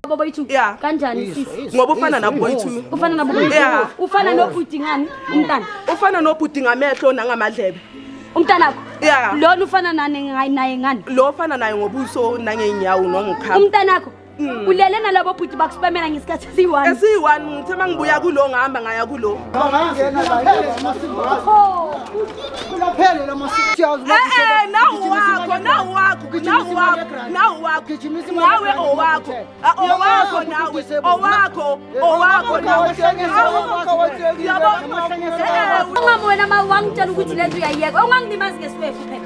Bobo ithu Yeah. kanjani sisi? ngoba ufana naboyithu mina Ufana nabo Yeah. ufana nobhuti ngani umntana? ufana nobhuti ngamehlo nangamadlebe Umntana wakho? Yeah. Lona ufana nani ngayi- naye ngani? lo ofana naye ngobuso nangey'nyawo nongikhama Umntana wakho? Mm. ulele nalabo bhuti bakusipamela ngesikhathi esiyi-one esiyi-one ngithe uma ngibuya kulo ngihamba ngaya kulo nawe owakho owakho nawe owakho owakho naweyabo wena ma wangitshela ukuthi le nto uyayiyeka ongangilimazi ngesiwefu phela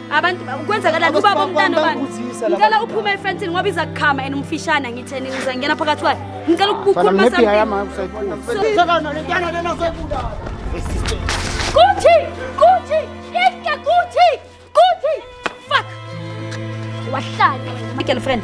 abantu kwenzakalani ubaba umntana obani ngicela uphume efentini ngoba iza kukhama and umfishane angitheni ngiza ngena phakathi kwayo ngicela ukukhuluma kuthi kuthi ika kuthi kuthi fuck wahlala my girlfriend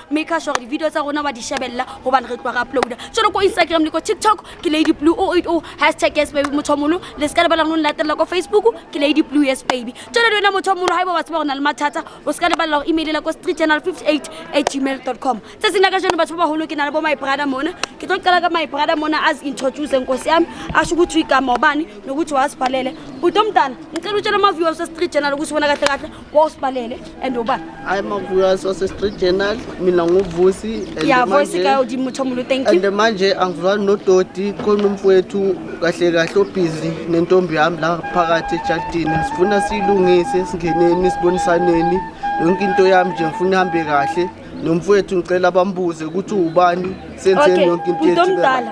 maker sure gore di-video tsa rona wa di shebelela gobane re tloa re uploada jalo ko instagram le ko tiktok ke lady blue o eight o oh, hashtag yes baby motho mogolo le se ka lebala gone latelela ko facebook ke lady blue yes baby jalo le wena motho mogolo ga e ba wa tseba go na le mathata o se ka lebalela go emailela ko street channel 58 at gmail dot com tse seng la ka jone batho ba bagolo ke na le bo my brother mona ke tlo qala ka my brother mona as introduce nkosi yami asho ukuthi igama obani nokuthi wasibhalele butomntana ngicela utshela ama-viewers westreet channel ukuthi wena kahle kahle wawusibalele and uba hayi mavuyas wasestreet journal mina nguvusi ya voice ka udimo muthu omulu thank you and manje angizwani nodoti khona umfowethu kahle kahle obhizi nentombi yami la phakathi ejadini sifuna siyilungise singeneni sibonisaneni yonke into yami nje ngifuna ihambe kahle nomfowethu ngicela bambuze ukuthi ubani senzeni okay yonke into bhuti yethu omdala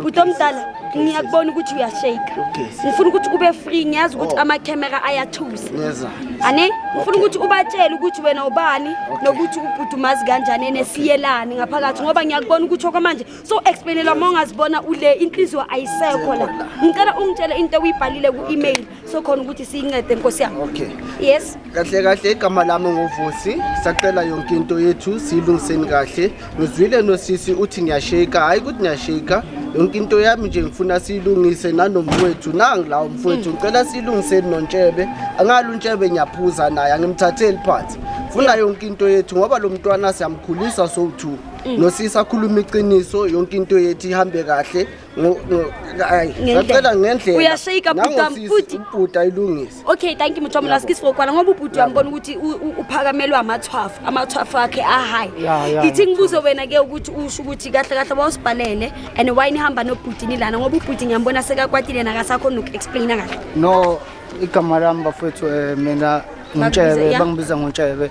bhuti omdala ngiyakubona ukuthi uyashake Okay. ngifuna ukuthi ube free ngiyazi ukuthi Oh. amakhemera ayathusa neza ane ngifuna ukuthi ubatshele ukuthi wena ubani nokuthi ubhuti umazi kanjani ene siyelani ngaphakathi ngoba ngiyakubona ukuthi okwamanje so explainelwa uma ungazibona ule inhliziyo ayisekho la ngicela ungitshele into ewuyibhalile ku-email sokhona ukuthi siyincede nkosi yami okay yes kahle kahle igama lami nguvusi sacela yonke into yethu siyilungiseni kahle ngizwile nosisi uthi ngiyasheka hhayi ukuthi ngiyasheka yonke into yami nje ngifuna siyilungise nanomfowethu nangila umfowethu ngicela siyilungiseni nontshebe angalo untshebe ngiyaphuza naye angimthatheli phansi funa yonke into yethu ngoba lo mntwana siyamkhulisa sowu-two mm. nosisi akhuluma iqiniso yonke into yethu ihambe kahle ngacela ngendlela uyashayika bhuti ubhuti ayilungise okay thank you muthu wamlasi kiss ngokwana ngoba ubhuti uyambona ukuthi uphakamelwa amathwafu amathwafu akhe ahayi ithi ngibuze wena ke ukuthi usho ukuthi kahle kahle wawusibhalele and why nihamba nobhuti nilana ngoba ubhuti ngiyambona sekakwatile nakasakho noku-explaina kahle no igama lami bafowethu um mina ngintshebe bangibiza ngontshebe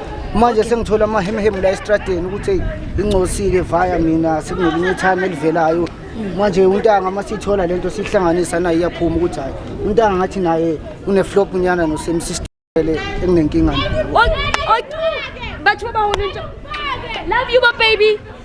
manje sengithola amahemhemu la esitradeni ukuthi eyi ingcosile vaya mina sekunelinye ithami elivelayo manje untanga uma siyithola le nto siyihlanganisa naye iyaphuma ukuthi hhayi untanga ngathi naye uneflop nyana nosemsistele enginenkinga naye bathiwa bahona into love you bababy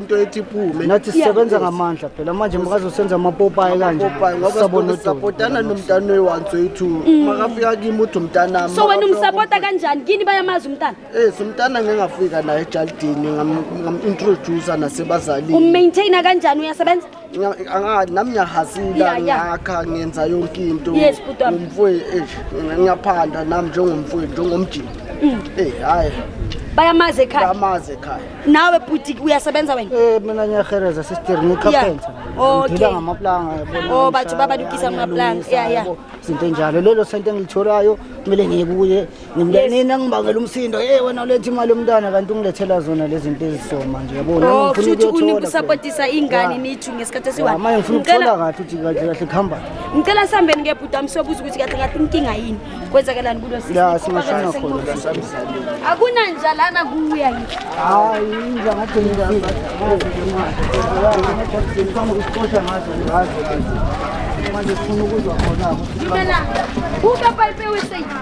into ethi iphume nathi sisebenza ngamandla phela manje makazosenza amapopayi kanje sabona sapotana nomntana oyiwanso yethu mm. makafika kimi uthi umntanami so wena umsapota kanjani kini bayamazi umntana eh umntana ngengafika naye ejalidini ngam-introducer nasebazalini ummaintaina kanjani uyasebenza nami ngiyahazila ngakha ngenza yonke into ngumfowethu eh, ngiyaphanda nami njengomfowethu njengomjini mm. eh hayi bayamazi ekhaya bayamazi ekhaya nawe bhuti uyasebenza wena eh mina ngiyahereza sister ngikhaphenza ngidila ngamaplanga yabona oh bathi babalukisa amaplanga yeah yeah izinto enjalo lelo sento engilitholayo kumele ngiye kuye Ngimntanini angibangela umsindo. Hey wena uletha imali yomntwana kanti ungilethela zona lezi zinto ezisoma nje yabo. Nami Oh, ngifuna futhi ukuyothola unika usapotisa ingane nithu ngesikhathi phela. esiwa. Manje ngifuna Ngicela- ukuthola kahle ukuthi kahle kahle kuhamba. Ngicela sihambeni ke bhuti amsobuza ukuthi kahle kahle inkinga yini. Kwenzakelani kulo sisi? Ya singashona khona. Akuna njalana kuya nje. Hayi inja ngathi ngizangazi. Ngifuna ukuqosha ngazo ngazo. Manje sifuna ukuzwa khona ukuthi Ngimela. Uka pipe wese.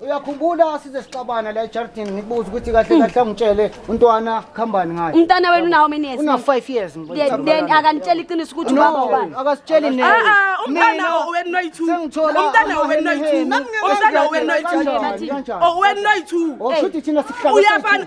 uyakhumbula size sixabana la ejardini ngikubuza ukuthi kahle kahle angitshele untwana khambani ngayo umntana wenu unawo mini years una 5 years then then akanitshela iqiniso ukuthi ubaba ubani akasitsheli nini ah, ah, umntana wenu noyithu umntana wenu noyithu umntana wenu noyithu oh wenu noyithu oh shuthi thina sihlaba uyafana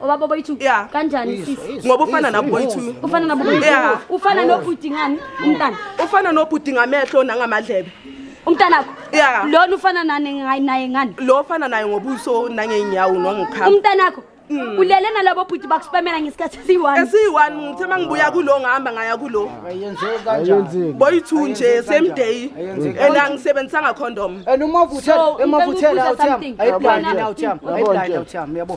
obaba boyithu Yeah. kanjani Izwa, sisi izwa, ngoba ufana izwa, nabo boyithu izwa. ufana nabo boyithu Yeah. ufana nobhuti ngani umntana ufana nobhuti ngamehlo nangamadlebe umntanakho Yeah. lona ufana nani ngayi- naye ngani lo ofana naye ngobuso nangey'nyawo nwangikhamba umntanakho Mm. ulele nalabo bhuti bakuspamela ngesikhathi esiyi-one esiyi-one ngithe uma ngibuya kulo ngihamba ngaya kulo ayenzeki kanjani Ayenzeki. boyi-two nje Ayenzeki same kanjani? day Ayenzeki. and angisebenzisanga condom and uma So, uvuthela emavuthela ngicela ukubuza awuthiyami something. ayiblandi Yabona- awuthiyami Yabona ayiblandi nje. awuthiyami yabo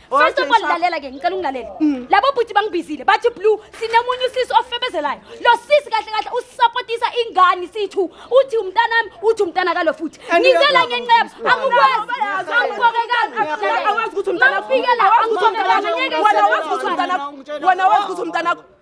First of all lalela ke ngicela ungilalele. Mm. Labo bhuti bangibizile bathi blue sinomunye usisi ofebezelayo. Lo sisi kahle kahle usupportisa ingane sithu uthi umntanami uthi umntana kalo futhi. Ngizela ngenqebo angikwazi angikokekanga. Awazi ukuthi umntana ufike la angikokekanga ngeke wena wazi ukuthi umntana wena wazi ukuthi umntana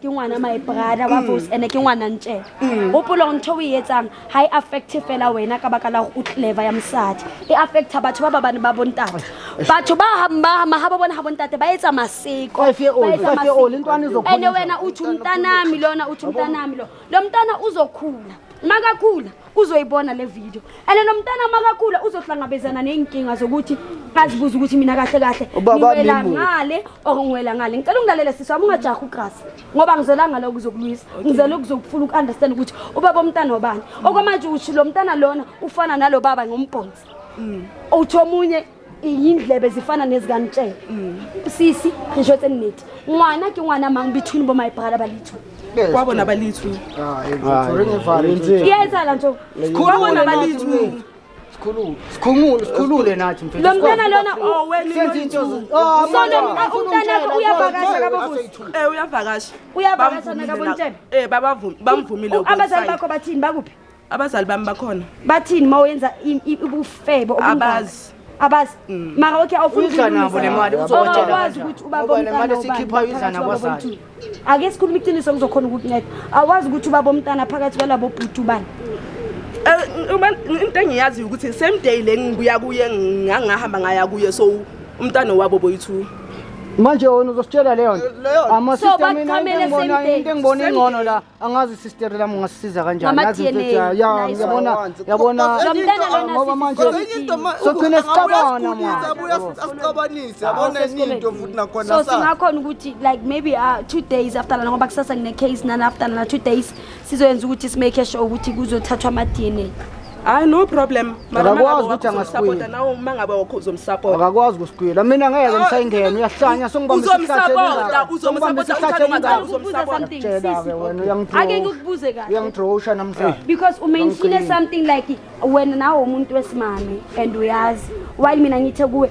ke ngwana my brother wa fose ene ke ngwana ntše gopolong ntho o e etsang ga e affecte fela wena ka baka la gore o clever ya mosadi e affecta batho ba ba bane ba bontate batho ba hamahama ga ba bone ga bontate ba etsa maseko Five year old, ba etsa five year old, maseko. intwana izokhulisa. ene wena uthi umntanami lona uthi umntanami lo lo mntana uzokhula makakhula uzoyibona le video and nomntana makakhula uzohlangabezana ney'nkinga zokuthi azibuze ukuthi mina kahle kahle Ubaba ngiwela wami mubi. ngale or ngiwela ngale ngicela ungilalele sisi wami ungajahi ugrasi ngoba ngizela ngale ukuzokulwisa ngizela ukuzokufuna uku-understand ukuthi ubaba omntana wabani okwamanje usho lo mntana lona ufana nalo baba ngombhonsi uthi omunye iyindlebe zifana nezikanitshela mm. sisi ngisho ukuthi engineti ngwana ke ngwana mang between bo my brother balithu kwabo nabalithu ah, yenza la nto kwabo nabalithu sikhulule sikhumule sikhulule nathi mfethu lo mntana lona owenzenza into sona umntana wakho uyavakasha kabobuthu eh uyavakasha uyavakasha nakabontshebe eh babavumi bamvumile abazali bakho bathini bakuphi abazali bami bakhona bathini uma wenza ubufebe abazi abazi mm. mara okay awufunanabo nemali uzokwazi ukuthi ubabomntana sikhipha izana kwazali ake sikhuluma iqiniso kuzokhona ukukunceda awazi ukuthi ubabomntana phakathi kwalabo bhuti ubani eh, into engiyaziyo ukuthi same day le ngibuya kuye ngangahamba ngaya kuye so umntana wabo boyithu manje wona uzositshela leyo nto ama system mina into engibona ingcono la angazi sister lami ngasisiza kanjani Ngama Yazi mfethu, DNA, ya- ya- nice yabona one. yabona Kodwa enye Mntana into- lona ngoba manje Kodwa enye into ma- Sogcina uku- sixabana, abuye asikhulise, mwana. abuye asi- asixabanise yabona enye into futhi nakhona so sa- singakhona ukuthi like maybe uh, two days after lana ngoba kusasa ngine-case nana after lana two days sizoyenza ukuthi simake sure ukuthi kuzothathwa ama-dna hayi no problem akakwazi ukuthi angasipota nawe uma ngabe wakho uzomsapota akakwazi ukusigwila mina ngeke ngisayingena uyahlanya songibambisa uzomsapota uzomsapota uthanda ungathanda uzomsapota tshela ke wena uyangidrowa ake ngikubuze kahle uyangidrowusha namhlanje because umenshine something like wena nawe umuntu wesimame and uyazi while mina ngithe kuwe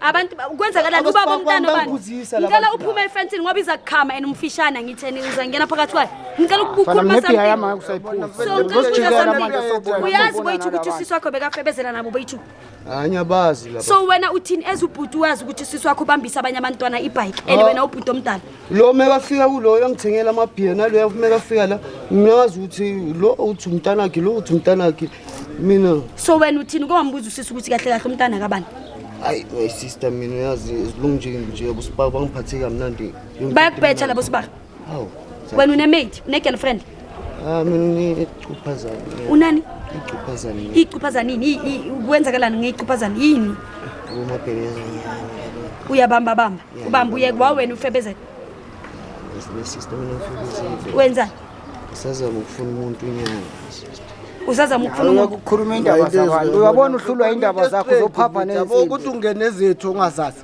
abantu kwenzakalani uba bomntana obani ngicela uphume efensini ngoba iza kukhama and umfishane angitheni uzangena phakathi kwayo ngicela ukukhuluma uyazi boyithu ukuthi usisi wakho bekafebezela nabo boyithu anyabazi so wena uthini ezubhuti wazi ukuthi usisi wakho ubambisa abanye abantwana ibhayiki and wena ubhuti omdala lo mekafika kuloyo angithengela amabhiya naloyo mekafika la mina ngazi ukuthi lo uthi umntanakhe lo uthi umntanakhe mina so wena uthini kombuza usisi ukuthi kahle kahle umntana kabani hayi my sister mina uyazi zilungu nje nje abosibaba bangiphathe kamnandi bayakubetha labo sibaba hawu wena unemaid une-girlfriend Ah, Unani? Icuphazani. Icuphazani yini? Kwenzakalani ngeyicuphazani yini? Uyabamba bamba. Ubamba uye kwa wena ufebezela. Sister mina ngifebezela. Wenza? Usazama ukufuna umuntu inyanga. Usazama ukufuna umuntu ukukhuluma indaba zabantu. Uyabona uhlulwa indaba zakho zophapha nezinto. Ukuthi ungene zethu ongazazi.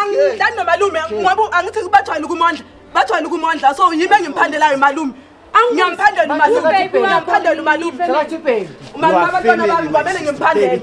angidlani nomalume ngoba angithi bathwala ukumondla bathwala ukumondla so yimi engimphandelayo malume ngiyamphandela umalume ngiyamphandela umalume umalume abantwana bami kwamele ngimphandele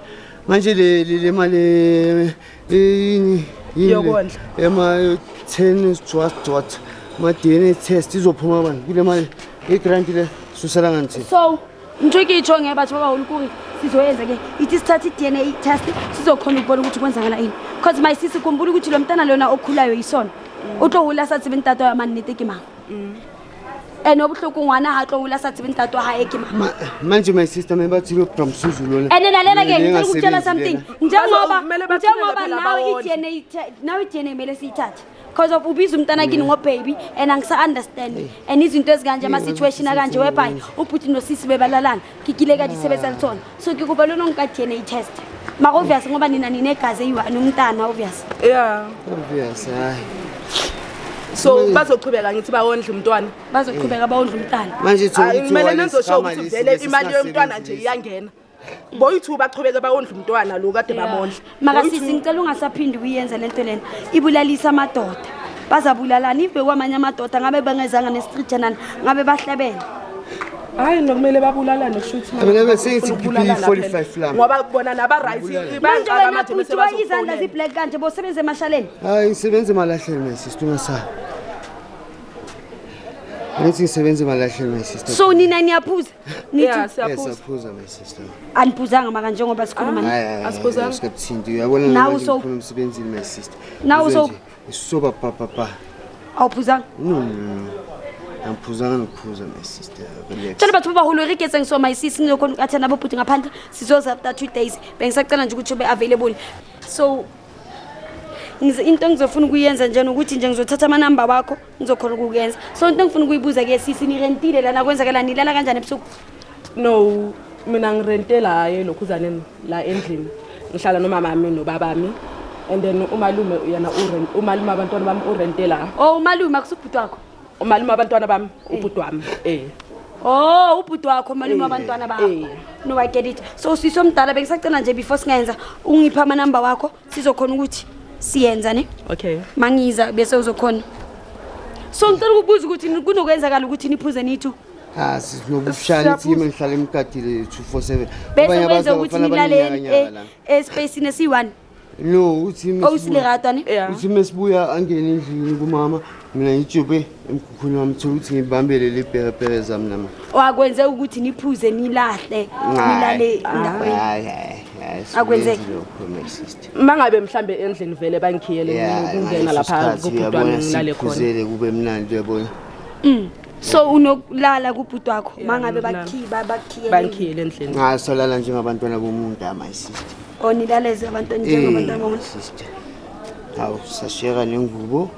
manje le le- le mali eh, yini yini Yokondla. le? ema ten dot dot ma DNA test izophuma bani kule mali i grant le susela nganthi so ngitho ikitsho ngeke batho babaholi kuri sizoyenza ke ithi sithatha i-dna test sizokhona ukubona ukuthi kwenzakala ini because my sisi khumbula ukuthi lo mntana lona okhulayo yisona utlohula sathi bentata yamani netekimanga ene o botlhoko ngwana ga tlo ola sa tsebeng tato ga e ke ma manje my sister me ba tsile from suzu lona ene na lela ke ntse go tshela something nje ngoba nje ngoba now it yene now it yene mele siyithathe because of ubiza umntana kini ngo baby and angisa understand and izinto ezikanje ama situation akanje whereby ubhuti nosisi bebalalana ke kile ka di sebetsa le tsona so ke kopa le no nka dna test mara obvious ngoba nina ninegazi eyi-one umntana obvious ya obvious hayi so Manje- bazoqhubeka ngithi bawondle umntwana bazoqhubeka bawondla umntana manje Hayi, thola kumele igciwane nizosho ukuthi lesikhama lesi vele lesi imali yomntwana nje singasebenzi. iyangena boyi-two baqhubeke bawondle umntwana lo kade Yeah. bamondla makasisi ngicela ungasaphindi uyenze le nto lena ibulalisa amadoda bazabulalana ive kwamanye amadoda ngabe bengezanga nesitrijanana ngabe bahlebele hayi nokumele babulalane kushuthi mina besengithi BP45 la ngoba bona naba right manje wena futhi wayizandla zi black kanje bosebenza emashaleni hayi ngisebenza emalahleni my sister ungasaba Ngithi ngisebenza emalahleni my sister so nina niyaphuza Nithi Yeah, Eh, siyaphuza. siyaphuza my sister aniphuzanga maka njengoba sikhuluma ni- Hayi, hayi, Asiphuzanga. hayi, sikabuthinti uyabona Nawe manje so- ngifuna emsebenzini my sister Nawe Uzwe so- nje, ngisoba papapa awuphuzanga no no no no. angiphuzanga ngiphuza my sister relax tshela bathu babaholo irigetseng so my sis nilokhona ukathana abobhuti ngaphandle sizoza after two days bengisacela nje ukuthi ube available so ngize- into engizofuna ukuyenza njena ukuthi nje ngizothatha amanamba wakho ngizokhona ukukuyenza so into engifuna ukuyibuza ke sisi nirentile lana kwenzakala nilala kanjani ebusuku no mina ngirentela hayi elokhuzaneni la endlini ngihlala nomamami nobabami and then umalume yena urent umalume abantwana bami urentela o umalume akusubhuti wakho umalume abantwana bami ubhuti wami eh Oh, ubhuti wakho malume abantwana bakho. No, I get it. So sisi omdala bengisacela nje before singenza ungipha ama number wakho sizokhona ukuthi siyenza ne okay mangiza bese uzokhona so ngicela ukubuza ukuthi kunokwenzakala ukuthi niphuze nithu ha ah, sinokushaya ithi yimi ngihlala emgadile 247 bese kwenza ukuthi nilale espacini esiyi-one no uthi oh, uthi mesibuya angene endlini kumama mina ngijube emkhukhwini wami thola ukuthi ngibambele liperepere zami nama wakwenzeka ukuthi niphuze nilahle nilale ndaweni Akwenzeki. mangabe mhlambe endlini vele bangikhiyele ngingena lapha kubhuti wami ngilale khona khona kube mnandi uyabona Mm. so unokulala kubhuti wakho mangabe bakhiba bakhiye bangikhiyele endlini cha solala njengabantwana bomuntu ama sister onilaleze abantwana njengabantu Eh, abamuntu sister hawu sashiyeka nengubo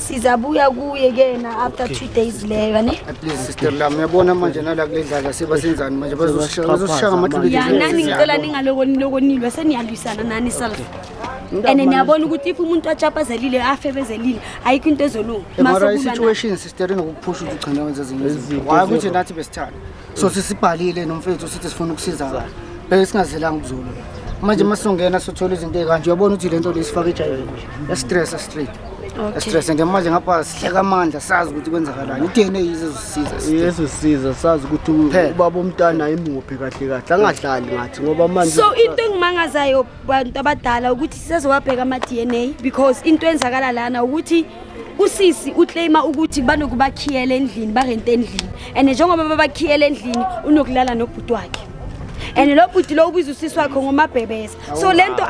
sizabuya kuye kena after two days leyo yane sister lami uyabona manje nala kule dlala sebasenzani manje bazosishaya bazosishaya ngamathuluzi ya nani ngicela ningaloko niloko nilwe seniyalwisana nani self and niyabona ukuthi if umuntu atshapazelile afebezelile ayikho into ezolunga Am I right? Masekuba na- situation sister inokuphusha ukuthi ugcina wenza ezinye izinto why ukuthi nathi besithanda so sisibhalile nomfethu sithi sifuna ukusizakala bese singazelanga ukuzulu manje uma songena sothola izinto ezikanje uyabona ukuthi le nto le sifake ejayini estress straight estress and manje ngapha sihleka amandla sazi ukuthi kwenzakalani i-dna izozisiza yeso siza sazi ukuthi Phela. ubaba omntana imuphi kahle kahle angahlali ngathi ngoba manje so into engimangazayo bantu abadala ukuthi sizezowabheka ama-dna because into enzakala lana ukuthi usisi uclaima ukuthi banokubakhiyela endlini barente endlini and njengoba babakhiyela endlini unokulala nobhuti wakhe and lo bhuti lo ubiza usisi wakhe ngomabhebeza so le nto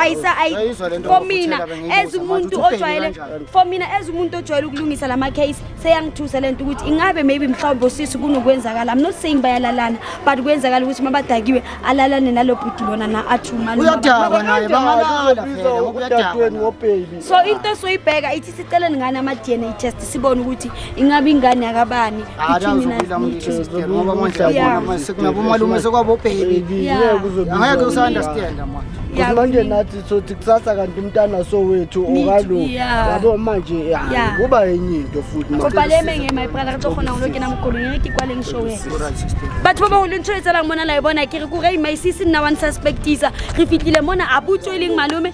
for mina as umuntu ojwayele for mina as umuntu ojwayele ukulungisa la macase seyangithusa le nto ukuthi ingabe maybe mhlawumbe usisi kunokwenzakala i'm not saying bayalalana but kwenzakala ukuthi mabadakiwe alalane nalo bhuti lona na athi umalumauyadakwa naye bangalala phela so into esoyibheka ithi siceleni ngani ama-dna test sibone ukuthi ingabe ingane yakabani ngoba manje yabona sekunabomalume sekwabobhebi angeke usa-understanda manje Ukuthi manje nathi sothi kusasa kanti umntana sowethu okalo yabo manje ya kuba enye into futhi manje kodwa le menge my brother ka khona ngolo kena mgolo ngeke ikwale ngisho we batho ba baholo ntshwetsa la ngibona la ibona ke re ku re my sis nna one suspectisa re fitlile mona a butso e leng malome